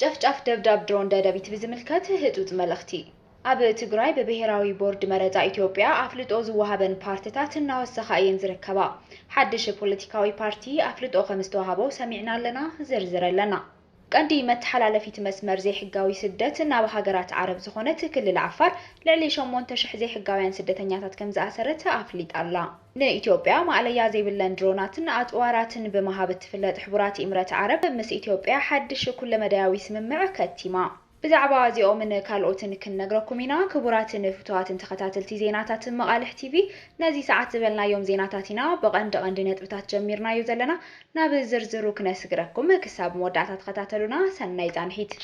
ጨፍጫፍ ደብዳብ ድሮን ደደቢት ብዝምልከት ህጹጽ መልእኽቲ። ኣብ ትግራይ ብብሄራዊ ቦርድ መረጻ ኢትዮጵያ ኣፍልጦ ዝወሃበን ፓርትታት እናወሰኻ እየን ዝርከባ። ሓድሽ ፖለቲካዊ ፓርቲ ኣፍልጦ ከምዝተዋህቦ ሰሚዕና ኣለና፣ ዝርዝር ኣለና። ቀንዲ መተሓላለፊት መስመር ዘይሕጋዊ ስደት ናብ ሃገራት ዓረብ ዝኾነት ክልል ዓፋር ልዕሊ ሸሞንተ ሽሕ ዘይሕጋውያን ስደተኛታት ከምዝኣሰረት ኣፍሊጣ ኣላ። ንኢትዮጵያ ማእለያ ዘይብለን ድሮናትን ኣጽዋራትን ብምሃብ እትፍለጥ ሕቡራት ኢምረት ዓረብ፣ ምስ ኢትዮጵያ ሓድሽ ኩለመዳያዊ ስምምዕ ከቲማ። ብዛዕባ እዚኦምን ካልኦትን ክንነግረኩም ኢና። ክቡራትን ፍቱዋትን ተኸታትልቲ ዜናታት መቓልሕ ቲቪ፣ ነዚ ሰዓት ዝበልናዮም ዜናታት ኢና ብቐንዲ ቐንዲ ነጥብታት ጀሚርናዮ ዘለና። ናብ ዝርዝሩ ክነስግረኩም። ክሳብ መወዳእታ ተኸታተሉና። ሰናይ ጻንሒት።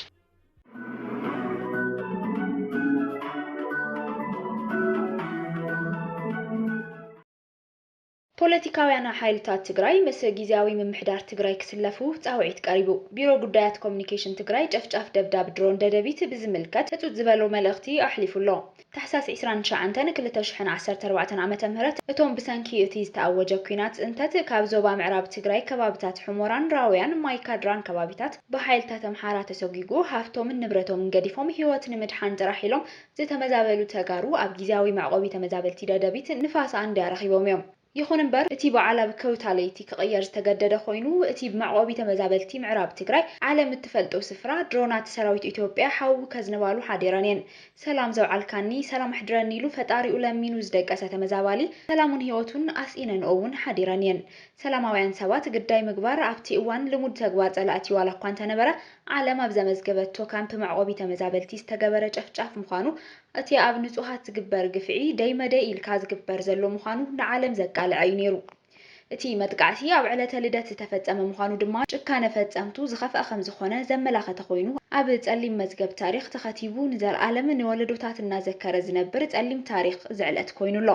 ፖለቲካውያና ሓይልታት ትግራይ ምስ ጊዚያዊ ምምሕዳር ትግራይ ክስለፉ ፃውዒት ቀሪቡ። ቢሮ ጉዳያት ኮሙኒኬሽን ትግራይ ጨፍጫፍ ደብዳብ ድሮን ደደቢት ብዝምልከት ህፁፅ ዝበሎ መልእኽቲ ኣሕሊፉ ኣሎ። ታሕሳስ ዕስራን ትሽዓንተን ክልተ ሽሕን ዓሰርተ ኣርባዕተን ዓመተ ምህረት እቶም ብሰንኪ እቲ ዝተኣወጀ ኲናት ፅንተት ካብ ዞባ ምዕራብ ትግራይ ከባብታት ሑሞራን ራውያን ማይ ካድራን ከባቢታት ብሓይልታት ኣምሓራ ተሰጒጉ ሃፍቶምን ንብረቶምን ገዲፎም ህይወት ንምድሓን ጥራሕ ኢሎም ዝተመዛበሉ ተጋሩ ኣብ ጊዚያዊ መዕቖቢ ተመዛበልቲ ደደቢት ንፋስ ኣንድያ ረኺቦም እዮም። ይኹን እምበር እቲ በዓል ኣብ ከውታ ለይቲ ክቕየር ዝተገደደ ኮይኑ፣ እቲ ብመዕቆቢ ተመዛበልቲ ምዕራብ ትግራይ ዓለም እትፈልጦ ስፍራ ድሮናት ሰራዊት ኢትዮጵያ ሓዊ ከዝንባሉ ሓዲረን እየን። ሰላም ዘውዓልካኒ ሰላም ኣሕድረኒ ኢሉ ፈጣሪኡ ለሚኑ ዝደቀሰ ተመዛባሊ ሰላሙን ህይወቱን ኣስኢነንኦ እውን ሓዲረን እየን። ሰላማውያን ሰባት ግዳይ ምግባር ኣብቲ እዋን ልሙድ ተግባር ፀላእቲ ዋላኳ እንተነበረ ዓለም ኣብ ዘመዝገበቶ ካምፕ መዕቆቢ ተመዛበልቲ ዝተገበረ ጨፍጫፍ ምዃኑ እቲ ኣብ ንጹሃት ዝግበር ግፍዒ ደይ መደይ ኢልካ ዝግበር ዘሎ ምዃኑ ንዓለም ዘቃልዐ እዩ ነይሩ። እቲ መጥቃዕቲ ኣብ ዕለተ ልደት ዝተፈጸመ ምዃኑ ድማ ጭካነ ፈጸምቱ ዝኸፍኣ ከምዝኾነ ዘመላኸተ ኮይኑ ኣብ ጸሊም መዝገብ ታሪኽ ተኸቲቡ ንዘልኣለም ንወለዶታት እናዘከረ ዝነብር ጸሊም ታሪኽ እዚ ዕለት ኮይኑ ኣሎ።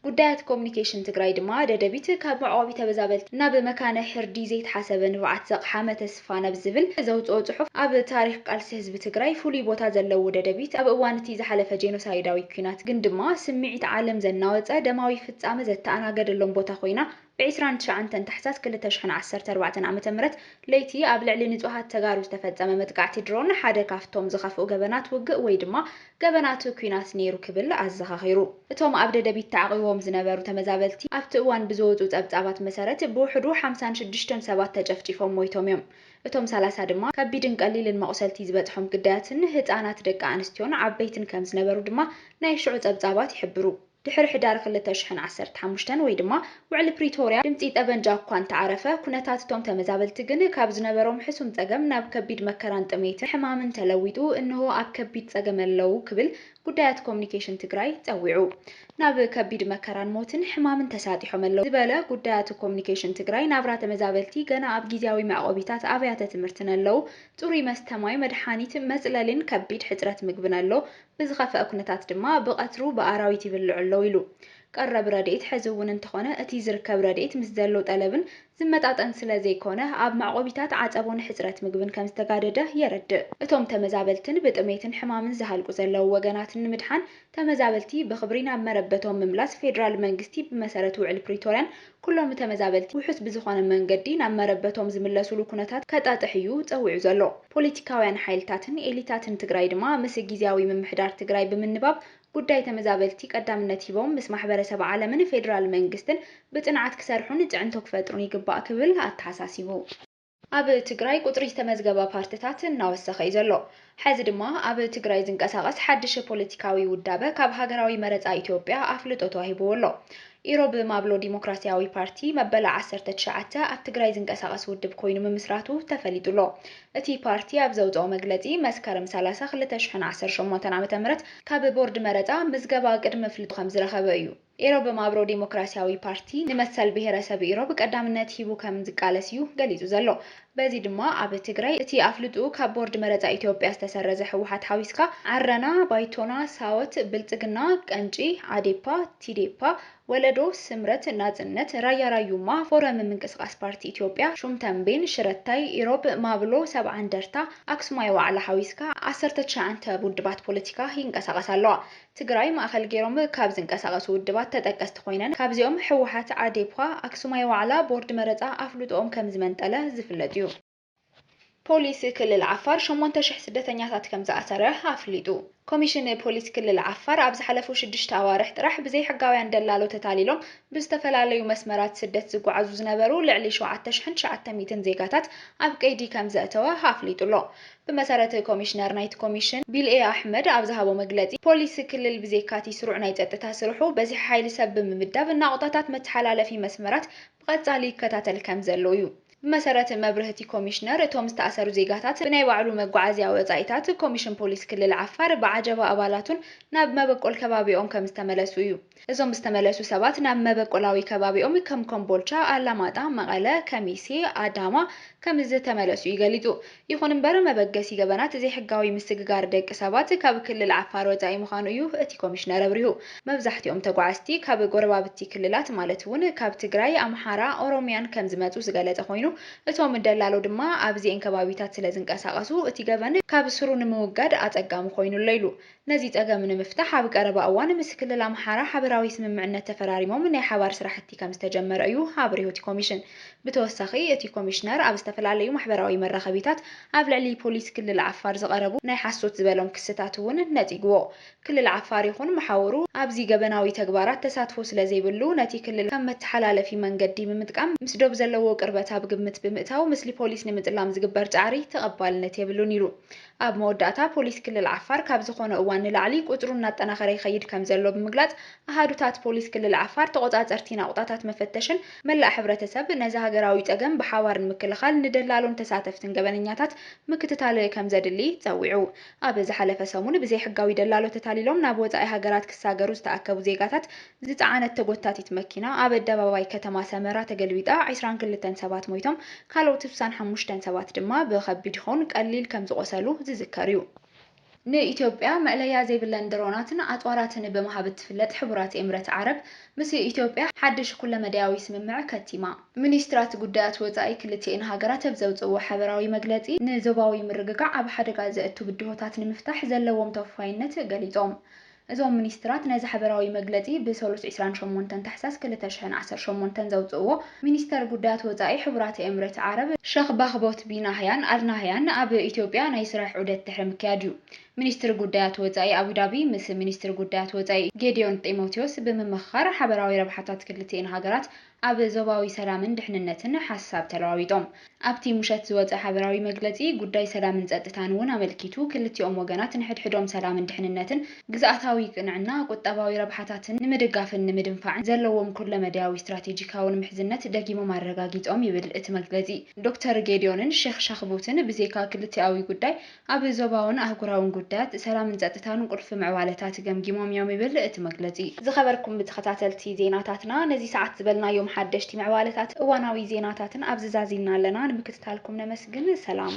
ጉዳያት ኮሙኒኬሽን ትግራይ ድማ ደደቢት ካብ መዕቆቢ ተበዛበልቲ ናብ መካነ ሕርዲ ዘይተሓሰበ ንብዓት ዘቕሓመ ተስፋ ናብ ዝብል ዘውፅኦ ፅሑፍ ኣብ ታሪኽ ቃልሲ ህዝቢ ትግራይ ፍሉይ ቦታ ዘለዎ ደደቢት ኣብ እዋን እቲ ዝሓለፈ ጄኖሳይዳዊ ኲናት ግን ድማ ስምዒት ዓለም ዘናወፀ ደማዊ ፍፃመ ዘተኣናገደሎም ቦታ ኮይና ብ ዕስራን ትሽዓንተን ታሕሳስ ክልተ ሽሕን ዓሰርተ ኣርባዕተን ዓመተ ምህረት ለይቲ ኣብ ልዕሊ ንፁሃት ተጋሩ ዝተፈፀመ መጥቃዕቲ ድሮን ሓደ ካፍቶም ዝኸፍኡ ገበናት ውግእ ወይ ድማ ገበናት ኲናት ነይሩ ክብል ኣዘኻኺሩ። እቶም ኣብ ደደቢት ተዓቚቦም ዝነበሩ ተመዛበልቲ ኣብቲ እዋን ብዝወፁ ፀብፃባት መሰረት ብውሕዱ ሓምሳን ሽዱሽተን ሰባት ተጨፍጪፎም ሞይቶም እዮም። እቶም ሰላሳ ድማ ከቢድን ቀሊልን መቑሰልቲ ዝበፅሖም ግዳያትን ህፃናት ደቂ ኣንስትዮን ዓበይትን ከምዝነበሩ ድማ ናይ ሽዑ ፀብፃባት ይሕብሩ። ድሕሪ ሕዳር ክልተ ሽሕን ዓሰርተ ሓሙሽተን ወይ ድማ ውዕሊ ፕሪቶርያ ድምጺ ጠበንጃ እኳ እንተዓረፈ፣ ኩነታት እቶም ተመዛበልቲ ግን ካብ ዝነበሮም ሕሱም ጸገም ናብ ከቢድ መከራን ጥሜትን ሕማምን ተለዊጡ እንሆ ኣብ ከቢድ ጸገም ኣለው ክብል ጉዳያት ኮሙኒኬሽን ትግራይ ጸዊዑ። ናብ ከቢድ መከራን ሞትን ሕማምን ተሳጢሖም ኣለው ዝበለ ጉዳያት ኮሙኒኬሽን ትግራይ፣ ናብራ ተመዛበልቲ ገና ኣብ ጊዚያዊ መዕቆቢታት ኣብያተ ትምህርትን ኣለው፣ ጽሩይ መስተ ማይ፣ መድሓኒት፣ መጽለሊን ከቢድ ሕጽረት ምግብን ኣሎ ብዝኸፈኣ ኩነታት ድማ ብቐትሩ ብኣራዊት ይብልዑ ኣለዉ ኢሉ። ቀረብ ረድኤት ሕዚ እውን እንተኾነ እቲ ዝርከብ ረድኤት ምስ ዘሎ ጠለብን ዝመጣጠን ስለዘይኮነ ኣብ መዕቆቢታት ዓፀቦ ንሕፅረት ምግብን ከምዝተጋደደ የረድእ። እቶም ተመዛበልትን ብጥሜትን ሕማምን ዝሃልቁ ዘለዉ ወገናትን ንምድሓን ተመዛበልቲ ብኽብሪ ናብ መረበቶም ምምላስ ፌዴራል መንግስቲ ብመሰረት ውዕል ፕሪቶርያን ኩሎም ተመዛበልቲ ውሑስ ብዝኾነ መንገዲ ናብ መረበቶም ዝምለሱሉ ኩነታት ከጣጥሕ እዩ ፀዊዑ ዘሎ። ፖሊቲካውያን ሓይልታትን ኤሊታትን ትግራይ ድማ ምስ ጊዚያዊ ምምሕዳር ትግራይ ብምንባብ ጉዳይ ተመዛበልቲ ቀዳምነት ሂቦም ምስ ማሕበረሰብ ዓለምን ፌዴራል መንግስትን ብፅንዓት ክሰርሑን ፅዕንቶ ክፈጥሩን ይግባእ ክብል ኣተሓሳሲቡ። ኣብ ትግራይ ቁፅሪ ዝተመዝገበ ፓርትታት እናወሰኸ ዩ ዘሎ። ሐዚ ድማ ኣብ ትግራይ ዝንቀሳቐስ ሓድሽ ፖለቲካዊ ውዳበ ካብ ሃገራዊ መረፃ ኢትዮጵያ ኣፍልጦ ተዋሂቡዎ ኣሎ። ኢሮብ ማብሎ ዲሞክራሲያዊ ፓርቲ መበል ዓሰርተ ትሽዓተ ኣብ ትግራይ ዝንቀሳቐስ ውድብ ኮይኑ ምምስራቱ ተፈሊጡ ኣሎ። እቲ ፓርቲ ኣብ ዘውፀኦ መግለፂ መስከረም ሰላሳ ክልተ ሽሕን ዓሰርተ ሸሞንተን ዓመተ ምህረት ካብ ቦርድ መረፃ ምዝገባ ቅድሚ ኣፍልጦ ከምዝረኸበ ዩ። ኢሮብ ማብሮ ዲሞክራሲያዊ ፓርቲ ንመሰል ብሄረሰብ ኢሮብ ቀዳምነት ሂቡ ከም ዝቃለስ እዩ ገሊፁ ዘሎ። በዚ ድማ ኣብ ትግራይ እቲ ኣፍልጥኡ ካብ ቦርድ መረፃ ኢትዮጵያ ዝተሰረዘ ህወሓት ሓዊስካ ዓረና፣ ባይቶና፣ ሳወት፣ ብልፅግና፣ ቀንጪ፣ ዓዴፓ፣ ቲዴፓ፣ ወለዶ፣ ስምረት፣ ናፅነት፣ ራያ ራዩማ፣ ፎረም ምንቅስቓስ ፓርቲ ኢትዮጵያ፣ ሹም ተምቤን፣ ሽረታይ፣ ኢሮብ፣ ማብሎ፣ ሰብዓ እንደርታ፣ ኣክሱማይ ዋዕላ ሓዊስካ ዓሰርተ ትሽዓንተ ውድባት ፖለቲካ ይንቀሳቐሳ ኣለዋ። ትግራይ ማእኸል ገይሮም ካብ ዝንቀሳቐሱ ውድባት ተጠቀስቲ ኮይነን ካብዚኦም ህወሓት፣ ኣዴፓ፣ ኣክሱማይ ዋዕላ፣ ቦርድ መረፃ ኣፍልጦኦም ከምዝመንጠለ ዝፍለጥ ዩ። ፖሊስ ክልል ዓፋር ሸሞንተ ሽሕ ስደተኛታት ከምዝኣሰረ ኣፍሊጡ። ኮሚሽን ፖሊስ ክልል ዓፋር ኣብ ዝሓለፉ ሽዱሽተ ኣዋርሕ ጥራሕ ብዘይሕጋውያን ደላሎ ተታሊሎም ብዝተፈላለዩ መስመራት ስደት ዝጓዓዙ ዝነበሩ ልዕሊ ሸውዓተ ሽሕን ትሽዓተ ሚእትን ዜጋታት ኣብ ቀይዲ ከምዘእተወ ኣፍሊጡ'ሎ። ብመሰረት ኮሚሽነር ናይቲ ኮሚሽን ቢልኤ ኣሕመድ ኣብ ዝሃቦ መግለጺ፣ ፖሊስ ክልል ብዜካ'ቲ ስሩዕ ናይ ጸጥታ ስርሑ፣ በዝሒ ሓይሊ ሰብ ብምምዳብ ናቑጣታት መተሓላለፊ መስመራት ብቐጻሊ ይከታተል ከምዘሎ'ዩ። ብመሰረት መብርህቲ ኮሚሽነር፣ እቶም ዝተኣሰሩ ዜጋታት ብናይ ባዕሉ መጓዓዝያ ወጻኢታት፣ ኮሚሽን ፖሊስ ክልል ዓፋር ብዓጀባ ኣባላቱን ናብ መበቆል ከባቢኦም ከምዝተመለሱ እዩ። እዞም ዝተመለሱ ሰባት ናብ መበቆላዊ ከባቢኦም ከም ኮምቦልቻ፣ ኣላማጣ፣ መቐለ፣ ከሚሴ፣ ኣዳማ ከምዝተመለሱ እዩ ገሊፁ። ይኹን እምበር መበገሲ ገበናት ዘይሕጋዊ ምስግጋር ደቂ ሰባት ካብ ክልል ዓፋር ወፃኢ ምዃኑ እዩ እቲ ኮሚሽነር ኣብሪሁ። መብዛሕቲኦም ተጓዓዝቲ ካብ ጎረባብቲ ክልላት ማለት እውን ካብ ትግራይ፣ ኣምሓራ፣ ኦሮሚያን ከምዝመፁ ዝገለፀ ኮይኑ እቶም ደላሎ ድማ ኣብዚኤን ከባቢታት ስለዝንቀሳቐሱ እቲ ገበን ካብ ስሩ ንምውጋድ ኣፀጋሚ ኮይኑ ኣሎ ኢሉ። ነዚ ፀገም ንምፍታሕ ኣብ ቀረባ እዋን ምስ ክልል ኣምሓራ ሓበራዊ ስምምዕነት ተፈራሪሞም ናይ ሓባር ስራሕቲ ከምዝተጀመረ እዩ ኣብሪሁ እቲ ኮሚሽን። ብተወሳኺ እቲ ኮሚሽነር ኣብ ዝተፈላለዩ ማሕበራዊ መራኸቢታት ኣብ ልዕሊ ፖሊስ ክልል ዓፋር ዝቐረቡ ናይ ሓሶት ዝበሎም ክስታት እውን ነፂጉዎ። ክልል ዓፋር ይኹን መሓውሩ ኣብዚ ገበናዊ ተግባራት ተሳትፎ ስለዘይብሉ ነቲ ክልል ከም መተሓላለፊ መንገዲ ብምጥቃም ምስ ዶብ ዘለዎ ቅርበት ኣብ ግምት ብምእታው ምስሊ ፖሊስ ንምፅላም ዝግበር ፃዕሪ ተቐባልነት የብሉን ኢሉ ኣብ መወዳእታ፣ ፖሊስ ክልል ዓፋር ካብ ዝኾነ እዋን ንላዕሊ ቁፅሩ እናጠናኸረ ይኸይድ ከምዘሎ ብምግላፅ፣ ኣሃዱታት ፖሊስ ክልል ዓፋር ተቖፃፀርቲ ናቑጣታት መፈተሽን መላእ ሕብረተሰብ ነዚ ሃገራዊ ፀገም ብሓባር ንምክልኻል ንደላሎን ተሳተፍትን ገበነኛታት ምክትታል ከምዘድሊ ፀዊዑ። ኣብ ዝሓለፈ ሰሙን ብዘይሕጋዊ ደላሎ ተታሊሎም ናብ ወፃኢ ሃገራት ክሳገሩ ዝተኣከቡ ዜጋታት ዝጸዓነት ተጎታቲት መኪና ኣብ ኣደባባይ ከተማ ሰመራ ተገልቢጣ ዕስራን ክልተን ሰባት ሞይቶም ካልኦት ስሳን ሓሙሽተን ሰባት ድማ ብኸቢድ ይኹን ቀሊል ከምዝቖሰሉ ዝዝከር እዩ። ንኢትዮጵያ መእለያ ዘይብለን ድሮናትን ኣጽዋራትን ብምሃብ እትፍለጥ ሕቡራት ኤምረት ዓረብ ምስ ኢትዮጵያ ሓድሽ ኩለመዳያዊ ስምምዕ ከቲማ። ሚኒስትራት ጉዳያት ወጻኢ ክልቲኤን ሃገራት ኣብ ዘውጽእዎ ሓበራዊ መግለጺ ንዞባዊ ምርግጋዕ ኣብ ሓደጋ ዘእቱ ብድሆታት ንምፍታሕ ዘለዎም ተወፋይነት ገሊጾም። እዞም ሚኒስትራት ነዚ ሓበራዊ መግለጺ ብሰሉስ ዕስራን ሸሞንተን ታሕሳስ ክልተ ሽሕን ዓሰርተ ሸሞንተን ዘውጽእዎ፣ ሚኒስተር ጉዳያት ወጻኢ ሕቡራት ኤምሬት ዓረብ፣ ሸኽ ባህቦት ቢን ኣህያን ኣል ናህያን ኣብ ኢትዮጵያ ናይ ስራሕ ዑደት ድሕሪ ምክያድ'ዩ። ሚኒስትሪ ጉዳያት ወጻኢ ኣቡዳቢ ምስ ሚኒስትሪ ጉዳያት ወጻኢ ጌዲዮን ጢሞቲዎስ ብምምኽኻር ሓበራዊ ረብሓታት ክልቲኤን ሃገራት ኣብ ዞባዊ ሰላምን ድሕንነትን ሓሳብ ተለዋዊጦም። ኣብቲ ሙሸት ዝወጸ ሓበራዊ መግለጺ፣ ጉዳይ ሰላምን ጸጥታን እውን ኣመልኪቱ፣ ክልቲኦም ወገናት ንሕድሕዶም ሰላምን ድሕንነትን፣ ግዝኣታዊ ቅንዕና፣ ቁጠባዊ ረብሓታትን ንምድጋፍን ንምድንፋዕን ዘለዎም ኩለመዳያዊ ስትራቴጂካውን ምሕዝነት ደጊሞም ኣረጋጊጾም ይብል እቲ መግለጺ። ዶክተር ጌዲዮንን ሼኽ ሻኽቡትን ብዜካ ክልቲኣዊ ጉዳይ ኣብ ዞባውን ኣህጉራውን ጉዳያት ሰላምን ጸጥታን ቁልፊ ምዕባለታት ገምጊሞም እዮም ይብል እቲ መግለጺ። ዝኸበርኩም ተኸታተልቲ ዜናታትና ነዚ ሰዓት ዝበልናዮም ሓደሽቲ ምዕባለታትን እዋናዊ ዜናታትን ኣብዚ ዛዚምና ኣለና። ንምክትታልኩም ነመስግን። ሰላም።